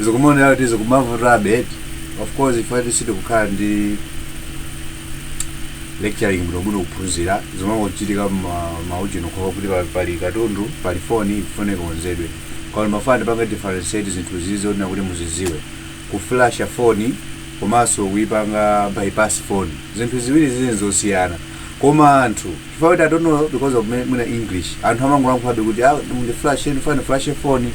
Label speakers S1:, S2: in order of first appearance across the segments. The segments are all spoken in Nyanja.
S1: zikumaonera kuti zikumavutabe eti of course ifetu sitikukhala ndi lecturing bwinobwino kuphunzira zimangochitika maujeni khokha kuti pa- pali katundu pali foni ifone ikonzedwe koma ndimafuna ndipange differentiate zinthu izi zonena kuti muziziwe kuflasha foni komanso kuipanga bypass foni zinthu ziwiri zili zosiyana koma anthu chifukwa kuti i don't know because of me- mwina english anthu amangolankhulabe kuti ah mundiflashe ndifuna ndiflashe foni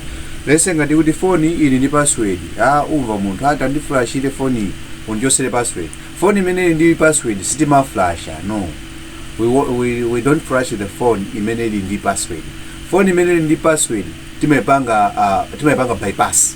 S1: let's say ngati kuti foni ili ndi password ah umva munthu ah tandiflashire foni iyi undichosere password foni imene ili ndi password sitimaflasha no we, wa- we, we don't flash the phone imene ili ndi password phone imene ili ndi password timaipanga uh, timaipanga bypass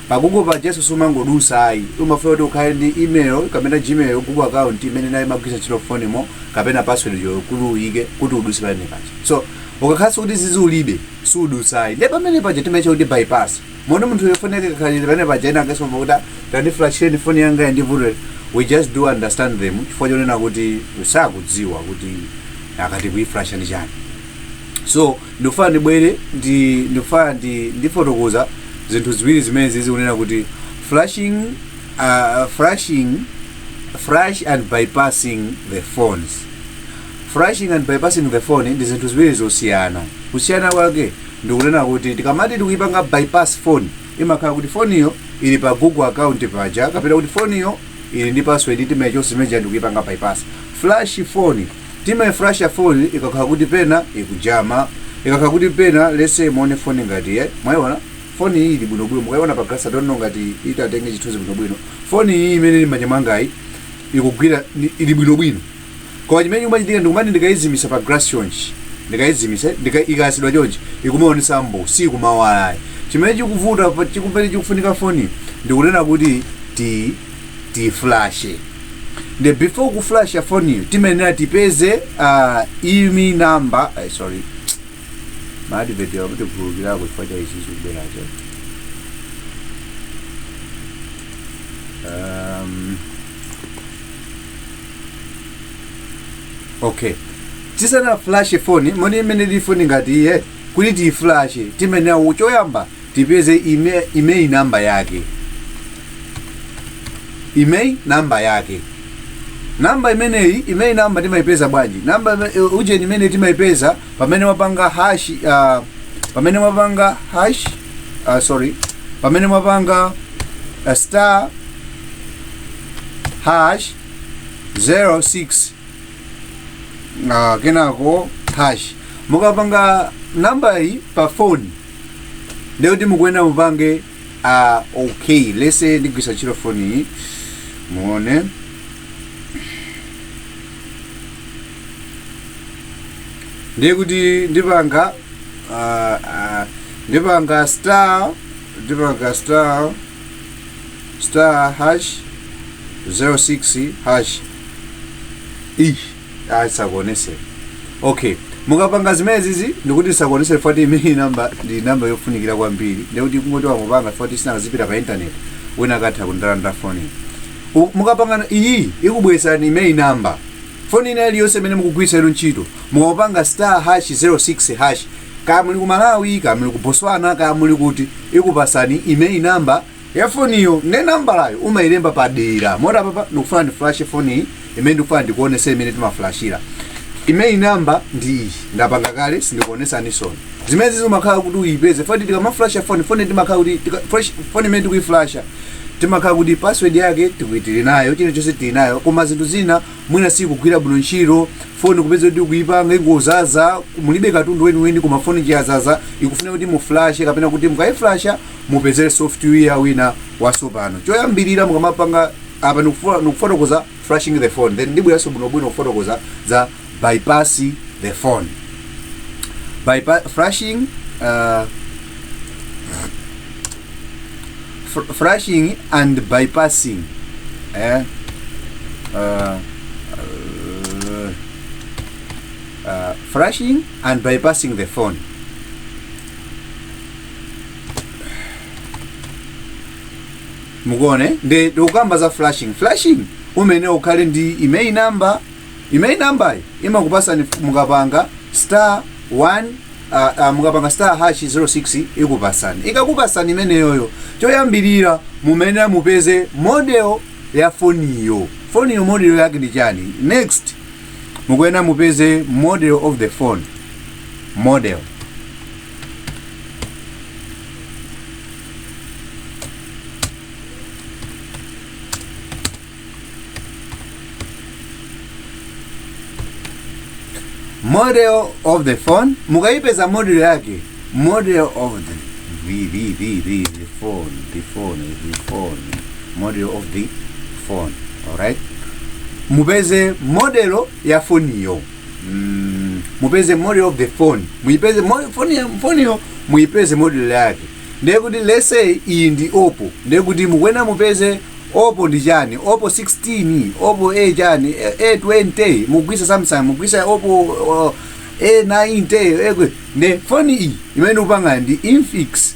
S1: Pa Google pajanso sumangodusa ayi. Umafunika kuti ukhale ndi email kapena Gmail, Google account, imene nayo imagwiritsa ntchito phone mo kapena password uja kuti uyike kuti uduse pamene paja. So ukakhalanso kuti izizi ulibe sudusa ayi. Nde pamene paja timaitcha kuti bypass. Moti munthu uyo phone yake ikakhala chete pamene paja ena angasema kuti "Ah, tandiflashireni phone yanga iyi ndi vuto ili." We just do understand them chifukwa chonena kuti sakudziwa kuti akati kuiflasha ndi chani. So Ndikufuna ndibwere ndi ndikufuna ndi ndifotokoza zinthu ziwiri zimenezi kunena kuti flashing uh, flashing flash and bypassing the phones flashing and bypassing the phone ndi zinthu ziwiri zosiyana kusiyana kwake ndikunena kuti tikamati tikuyipanga bypass phone imakhala kuti foniyo ili pa google account paja kapena kuti foniyo ili ndi password timayichosa imene ndikuyipanga bypass flash phone Timaiflasha phone ikakhala kuti pena ikujama. Ikakhala kuti pena let's say muone phone ngati eh mwaiona phone iyi ili bwino bwino mukaiona pa glass I don't know ngati itatenge chithunzi bwino bwino. Phone iyi imene ili m'manja mwangayi ikugwira ni- ili bwino bwino. Koma chimene chikumachitika ndikumati ndikaizimisa pa glass chonchi ndikaizimisa ndika ikayasidwa chonchi ikumaonesa mbuu sikumawala ayi. Chimene chikuvuta pa- chikupere chikufunika phone ndikunena kuti ti tiyifulashe nde before kufulasha foniyo timayenera tipeze uh, IMEI namba eh, sorry maadiveti akuti kukhulukirako chifukwa cha ichi chikubweracho um, okay tisanaflashe foni muone imene ili foni ngati iyi kuti tiyifulashe timayenera choyamba tipeze IMEI, IMEI number yake IMEI number yake namba imeneyi IMEI number timayipeza bwanji namba ime- eh, ujeni imeneyi timayipeza pamene mwapanga hash uh, pamene mwapanga hash uh, sorry pamene mwapanga uh, star hash 06 uh, kenako hash mukapanga namba iyi pa phone lero ndiye kuti mukuyenera mupange a okay let's say ndigwisa ntchito foni iyi muone ndiye kuti ndipanga ah, ah, ndipanga star ndipanga star star hash 06 hash iyi ayi ndisakuonese okay mukapanga zimenezizi ndikuti ndisakuonese foti IMEI namba ndi namba yofunikira kwambiri ndikuti kungoti wangopanga foti sinakazipita pa intaneti wina akatha kundilanda foni U- mukapanga iyi ikubweresani IMEI namba foni ina iliyonse imene mukugwiritsa inu ntchito mukapanga star hash 06 hash kaya muli ku malawi kaya muli ku botswana kaya muli kuti ikupasani IMEI namba ya foniyo ne nambalayo umayilemba padera moti apapa ndikufuna ndiflashe foniyi imene ndikufuna ndikuonese mmene timaflashira IMEI namba ndi iyi ndapanga kale sindikuonesaninso zimene zimakhala kuti uyipeze foti tikamaflasha foni foni timakhala kuti tika- flash- foni imene tikuyiflasha timakhala kuti password yake tiku- tili nayo chilichonse tili nayo koma zinthu zina mwina sikugwira bwino ntchito foni kupeza kuti kuipanga ingozaza mulibe katundu weniweni koma foni chiyazaza ikufuna kuti muflashe kapena kuti mukayiflasha mupezere software wina wasopano choyambirira mukamapanga apa ndikufu- ndikufotokoza flashing the phone then ndibweranso bwinobwino kufotokoza za bypass the phone Bypa flashing uh, fr- flashing and bypassing eh? uh, uh, uh, flashing and bypassing the phone mukuona nde tikukamba za flashing flashing umayenera ukhale ndi IMEI number IMEI number yi imakupasani mukapanga star 1 uh, uh, mukapanga star hash 06 ikupasani ikakupasani imeneyoyo choyambirira mumayenera mupeze model ya foniyo foniyo model yake ndi chani next mukuyenera mupeze model of the phone model model of the phone mukayipeza model yake model of the the the the the, the phone the phone the phone model of the phone alright mupeze model ya foniyo mm, mupeze model of the phone muipeze mo- phone ya- phone yo muipeze model yake ndiye kuti let's say iyi ndi oppo ndiye kuti mukuyenera mupeze oppo ndi chani oppo 16 oppo a chani A- a20 mugwisa samsung mugwisa oppo uh, a90 ekwe ne phone iyi imene ndikupanga ndi infix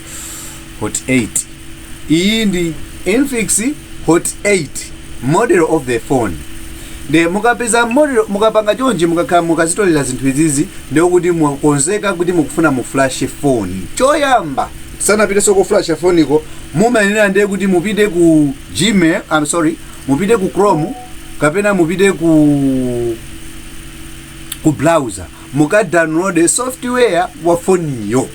S1: hot 8 iyi ndi infinix hot 8 model of the phone nde mukapeza model mukapanga chonje mukakhala mukazitolera zinthu izizi ndiye kuti mukonzeka kuti mukufuna mu flash phone choyamba sanapiteso ku flash phone ko mumayenera ndi kuti mupite ku gmail i'm sorry mupite ku chrome kapena mupite ku ku browser muka download software wa foniyo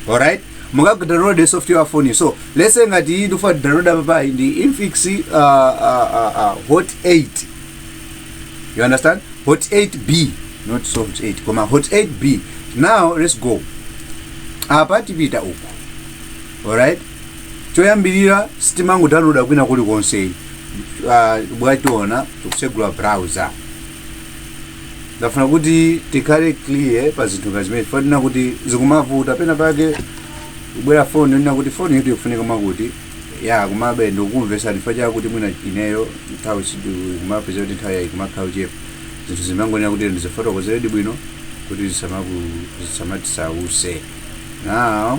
S1: alright muka download software wa foniyo so let's say ngati iyi ndifuna download apapayi ndi infinix uh, uh, uh, uh, hot 8 you understand hot 8b not soft 8 koma hot 8b now let's go apa tipita uku alright choyambirira sitimangodownloada kwina kulikonse uh, bwationa tikusegula browser ndafuna kuti tikhale clear pa zinthu ngati zimene fanena kuti zikumavuta pena pake kubwera foni yonena kuti foni yoti ikufunika mwakuti ya komabe ndikukumvesa chifukwa chakuti mwina ineyo nthawi kumapeza kuti nthawi yayi kumakhala kuchepa zinthu zimangonena kuti ndizifotokozeredi bwino kuti zisamaku- zisamatisautse now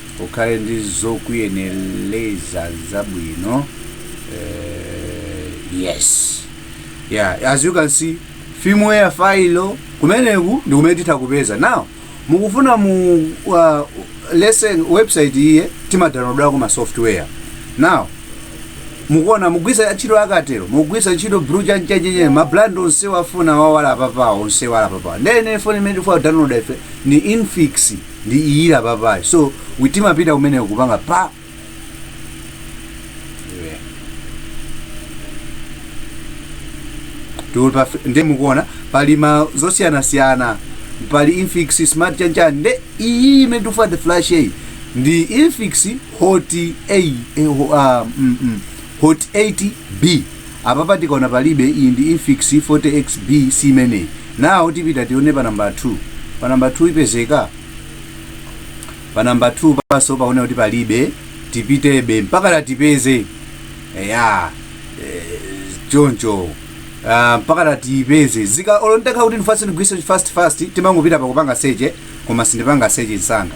S1: ukhale ndi zokuyeneleza zabwino uh, yes yeah as you can see firmware file kumeneku ndi kumene titha kupeza now mukufuna mu uh, lesson website iye timadownloadako ma software now mukuona mugwisa ntchito akatero mugwisa ntchito bru chanchachenye mabrand onse wofuna awa ali apapawa onse ali apapa ndiye foni imene tifuna kudownloada ife ndi infinix ndi iyi ili apapayi so we timapita kumeneko kupanga pa nde mukuona pali ma zosiyanasiyana pali infinix smart chanchani nde iyi imene tikufuna kuflasha iyi ndi infinix hot a eh, ho- ah, mm, mm, hot 8b Apapa tikaona palibe iyi ndi infinix 40 XB siimeneyi. Now tipita tione pa number 2. Pa number 2 ipezeka? Pa number 2 panso paone kuti palibe tipitebe mpaka tatipeze. Eya. Eh, choncho. Uh, mpaka tatipeze zika olontakha kuti ndifuna ndigwiritse fast fast timangopita pakupanga seche koma sindipanga seche nsanga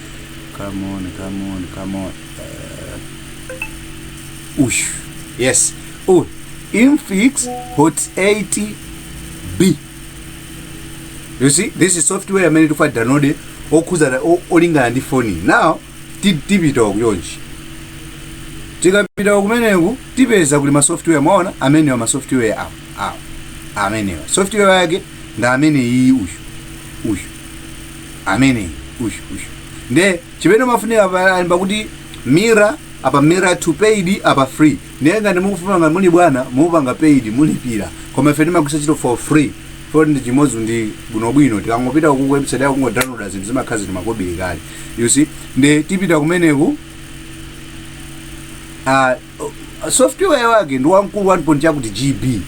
S1: come on come on come on uh, uyu yes uyu infix hot 8 b you see this is software amene tikufa download okhuzana o- olingana ndi foni now ti- tipita kuyonji tikapita kumeneku tipeza kuli masoftware mwaona amenewa masoftware awo awo amenewa software yake ndi amene iyi uyu uyu amene uyu uyu nde chimene chimafunika apa alemba kuti mirror apa mirror 2 paid apa free ndiye ngati mukufuna ngati muli bwana mupanga paid mulipira koma ife timagwitsa ntchito for free poti ndi chimodzi ndi bwinobwino tikangopita ku website yako kungodownloada zinthu zimakhala zili makobiri kale you see nde tipita kumeneku ah, uh, software wake ndi wamkulu 1. chakuti gb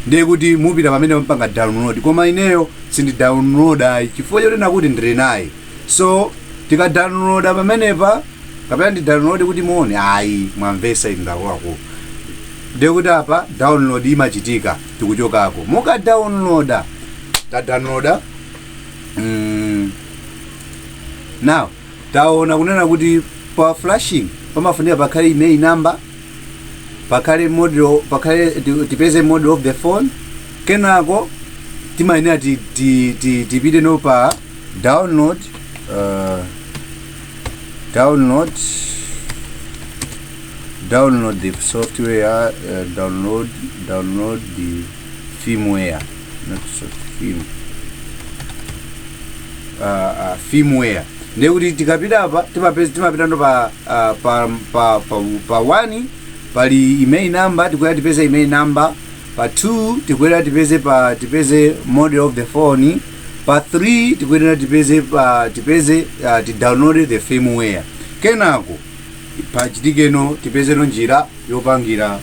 S1: ndiye kuti mupita pamene mpanga download koma ineyo sindi download ayi chifukwa chonena kuti ndili naye so tika download pamenepa kapena ndi download kuti muone ayi mwamvesa inu ndakuluakulu ndiye kuti apa download imachitika tikuchokako muka downloada ta downloada mm, now Taona kunena kuti pa flashing pamafunika pakhale IMEI number, pakhale model, pakhale ti- tipeze model of the phone, kenako timayenera ti- ti- ti- tipiteno pa download uh, download download the software uh, download download the firmware Microsoft film uh, uh, firmware ndekuti tikapita apa timapeza timapitano pa, uh, pa, pa, pa, pa 1 pali IMEI number tikuyenera tipeze IMEI number pa 2 tikuyenera tipeze pa tipeze model of the phone pa 3 tikuyenera tipeze pa tipeze uh, tidownload the firmware kenako pachitikeno tipezeno njira yopangira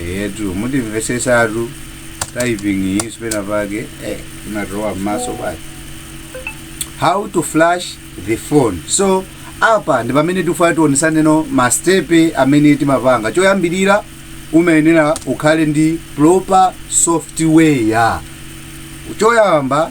S1: eyetu mutimvesesatu typing iyi si penapake eh, imatowa mmaso pake how to flash the phone so apa ndi pamene tifuna tionesaneno mastepe amene timapanga choyambirira umayenera ukhale ndi proper software choyamba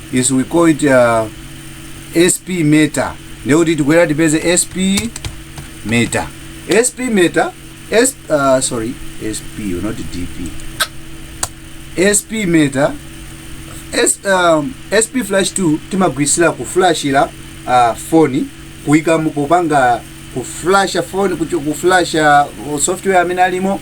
S1: is we call it uh, sp meter ndiye kuti tikwera tipeze sp meter sp meter S, uh, sorry sp not dp sp meter S, um, sp flash 2 timagwirisira kuflashira uh, foni kuika mu- kupanga kuflasha foni kucho- kuflasha uh, software amene alimo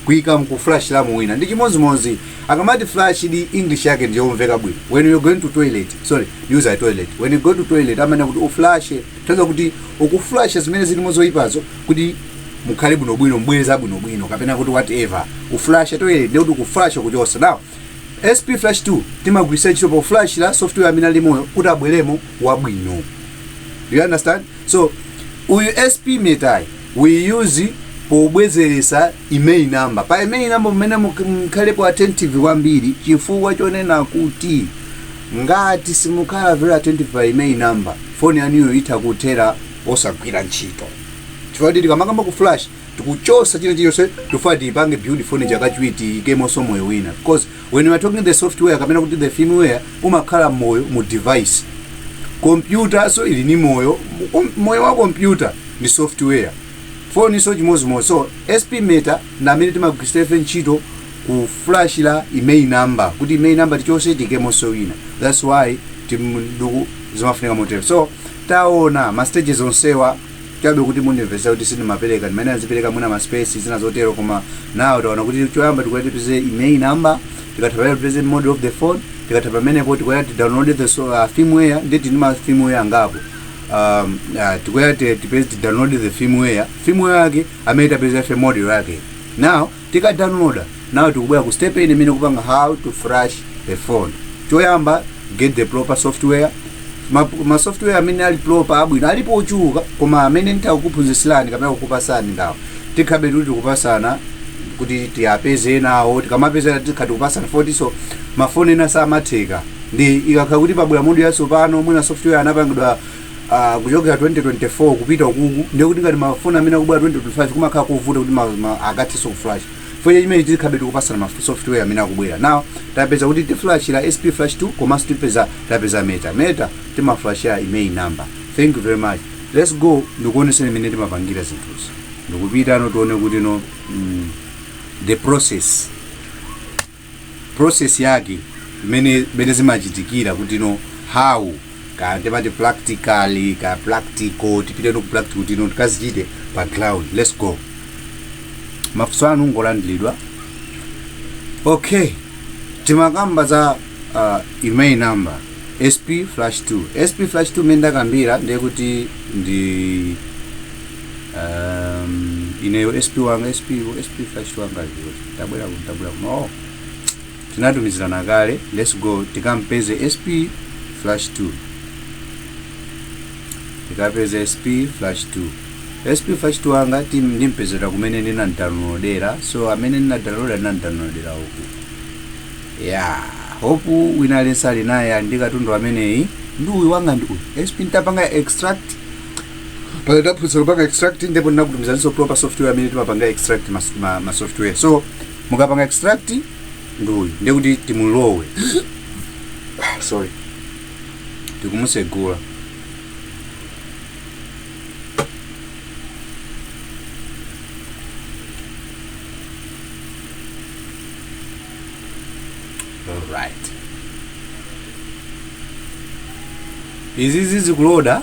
S1: kuika nkuflashiramo wina ndi chimodzimodzi akamati flash di english yake ndi yomveka bwino when you're going to toilet sorry use a toilet when you go to toilet umayenera kuti uflashe kutanthauza kuti ukuflasha zimene zilimo zoyipazo kuti mukhale bwino bwino mbweza bwino bwino kapena kuti whatever uflasha toilet ndi kuti ukuflasha kuchosa now sp flash tool timagwiritsa ntchito poflashira software amene alimoyo kuti abweremo wabwino you understand so uyu sp metayi we use pobwezeretsa IMEI number pa IMEI number mmayenera muk- mukhalepo attentive kwambiri chifukwa chonena kuti ngati simukhala very attentive pa IMEI number foni yanuyo itha kuthera osagwira ntchito chifukwa kuti tikamakamba ku flash tikuchosa china chilichonse tofuna tiyipange build foni chakachiwiri tiyikemonso moyo wina because When you are talking the software kapena kuti the firmware umakhala moyo mu device. Kompyutanso ili ni moyo, kom- moyo wa kompyuta ni software. Phonenso chimozimozi so SP Meta ndi amene timagwiritsa ife ntchito kuflashira IMEI number kuti IMEI number tichose tiikemonso wina. That's why timduku zimafunika motero. So taona ma stages onsewa chabe kuti mundimvetsera kuti sindimapereka ndimene azipereka mwina ma space zina zotero koma now taona kuti choyamba tikuya tipeze IMEI number tikatha pamenepo tipeze model of the phone tikatha pamenepo tikuya ti download the so, uh, firmware nde tili ndi ma firmware angapo um, uh, tikuya ti- tipeze ti download the firmware firmware yake amene tapeza ife model yake now Tika downloada, now tikubwera ku step ina imene ikupanga how to flash a phone. Choyamba get the proper software. Ma, ma software amene ali proper abwino alipo ochuluka koma amene nditha kukuphunzitsilani kapena kukupasani ndawo tikhabe kuti tikupasana kuti tiyapeze enawo tikamapezera tikha tikupasana futiso mafoni ena samatheka ndi ikakhala kuti pabwera model yatsopano mwina software anapangidwa ah, kuchokera 2024 kupita ukuku ndiye kuti ngati mafoni amene akubwera 2025 kumakhala kovuta kuti ma- ma- akathenso kuflash fweche chimene tizikhabe tikupasana ma software amene akubwera now tapeza kuti tiflashira sp flash tool komanso tipeza tapeza meta meta timaflashira IMEI number thank you very much let's go ndikuoneseni mmene timapangira zinthuzi ndikupita no tione kuti no mm, the process process yake mmene zimachitikira kuti no how ka ndimati practically ka practical tipite no ku practical kuti no tikazichite pa ground let's go mafunso anu ngolandiridwa okay timakamba za uh, IMEI number sp flash tool sp flash tool mmene ndakambira ndiye kuti ndi um, ineyo sp wanga sp sp flash tool wanga aliyo tabwera kuno tabwera kuno oh tinatumizirana kale let's go tikampeze sp flash tool tikapeze sp flash tool sp flash tool wanga tim- ndimpezera kumene ndinamdownloadera so amene ndinadownloadera ndinamdownloadera uku ya hope wina aliyense ali naye ali ndi katundu ameneyi ndi uyu wanga ndi uyu sp ntapanga extract paja taphunzira kupanga extract ndipo ndinakutumizanso proper software amene timapanga extract ma, ma, ma software so mukapanga extract nduyu ndiye kuti timulowe Ah, sorry tikumusegula alright izizi zikuloda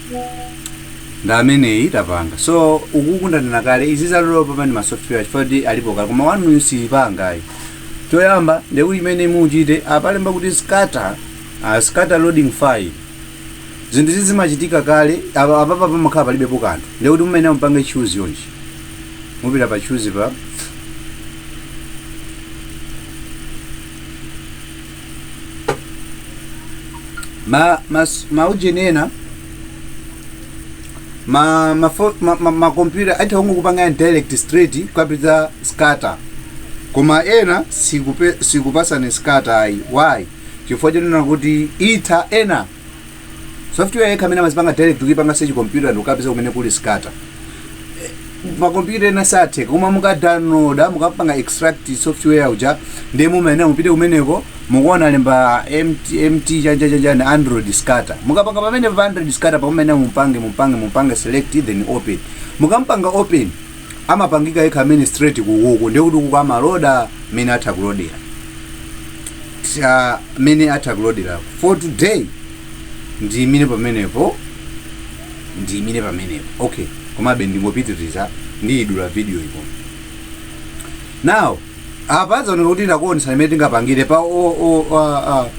S1: ndi ameneyi tapanga so ukuku ndanena kale izi zalolo papani ma software chifukwa kuti alipo kale koma wanu siyipangayi choyamba ndekuti imene muchite apalemba kuti scatter uh, scatter loading file zinthu izi zimachitika kale apa apapa pamakhala palibepo kanthu ndekuti mmene mupange choose yonji mupita pa choose pa ma, ma, ma ujeni ena ma ma fo- ma, ma, ma computer amatha kungokupanga direct straight kupeza scatter koma ena sikupe, sakupatsani scatter ayi why chifukwa chonena kuti itha ena software yekha amene amazipanga direct kuipanga search computer ndi kukapeza kumene kuli scatter makompyuta ena sathe koma mukadownloada mukapanga extract software uja ndiye mumayenera mupite kumeneko mukuona alemba mt, mt chani chani android scatter mukapanga pamene pa android scatter pake mumayenera mumpange mumpange mumpange select then open mukampanga open amapangika yekha amene straight kukuku ndiye kuti kuku amaloda mmene atha kulodera ta mmene atha kulodera for today ndiyimire pamenepo ndiyimire pamenepo okay komabe ndingopitiriza ndiyidula video iyi now apa zaoneka kuti ndakuonesani mmene tingapangire pa o- o- a- a-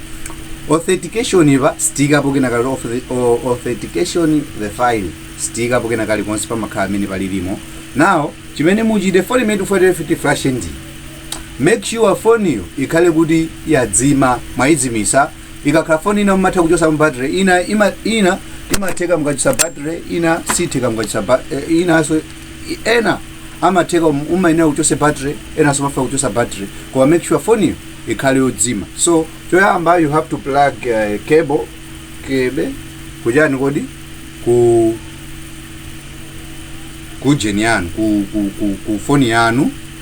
S1: authentication apa sitiikapo kena kali auth- o- authentication the file sitiikapo kena kali konse pamakhala mmene palilimo now chimene muchite foni imene tifuna tiyiflash ndi Make sure phone yo ikhale kuti yadzima, mwayidzimisa, ikakhala phone ina mumatha kuchosamo battery, ina ima, ina imatheka mukachosa battery, ina sitheka mukachosa ba, eh, inaso ena amatheka um- umayenera muchose battery, ena somafuna kuchosa battery, koma make sure phone yo ikhale yodzima. So choyamba you have to plug uh, cable cable kuchani kodi ku kujeni yanu ku, ku, ku, ku phone yanu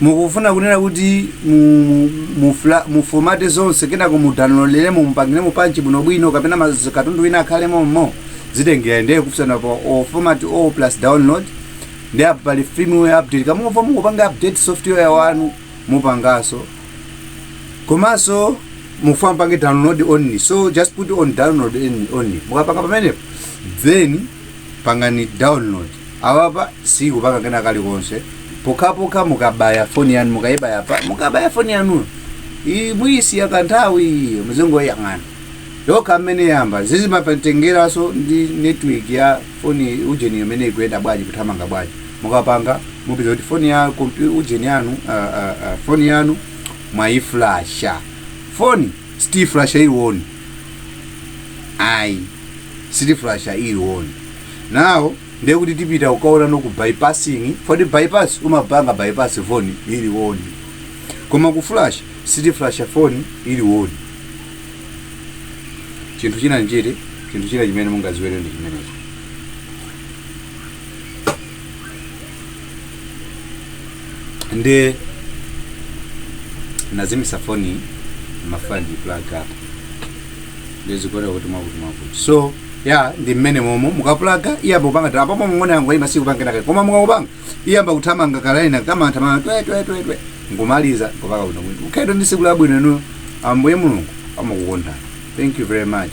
S1: mukufuna kunena kuti mu, mu, mu, fla- mu formate zonse kenako mu downloaderemo mupangiremo pa nchi bwinobwino kapena maz- katundu wina akhale mommo zitengera ndiye kufuna kwanu pa format all plus download ndi apo pali firmware update kamba mukupanga update software wanu mupangaso komanso mufuna mupange download only so just put on download only- only mukapanga pamenepo then pangani download Now apa siikupanga kena kalikonse pokhapokha mukabaya foni yanu mukaibaya pa mukabaya foni yanuyo i- muyisiya kanthawi muzingoyang'ana yokha amene yamba zimatengeranso ndi network ya foni ujeni imene ikuyenda bwanji kuthamanga bwanji mukapanga mupeza kuti foni ya kompyu ujeni yanu ah, ah, ah, foni yanu mwayiflasha foni sitiflasha ili on ayi sitiflasha ili on Now ndiye kuti tipita kukaonana ku bypassing poti bypass umapanga bypass foni ili on koma kuflasha sitiflasha foni ili on chinthu china nchiti chinthu china chimene mungaziwere ndi chimenecho nde nazimisa foni mafani plug up ndidziona kuti mwakuti mwakuti so ya ndi mmene momo mukapulaga iyamba kupanga apa pomwe ng'ona yangu ima sikupangenaka koma mukakupanga iyamba kuthamanga kalaina kamathamanga twe twe twe twe nkumaliza kupaka bwino bwino mukhale ndi siku labwino inu ambuye mulungu amakukondani thank you very much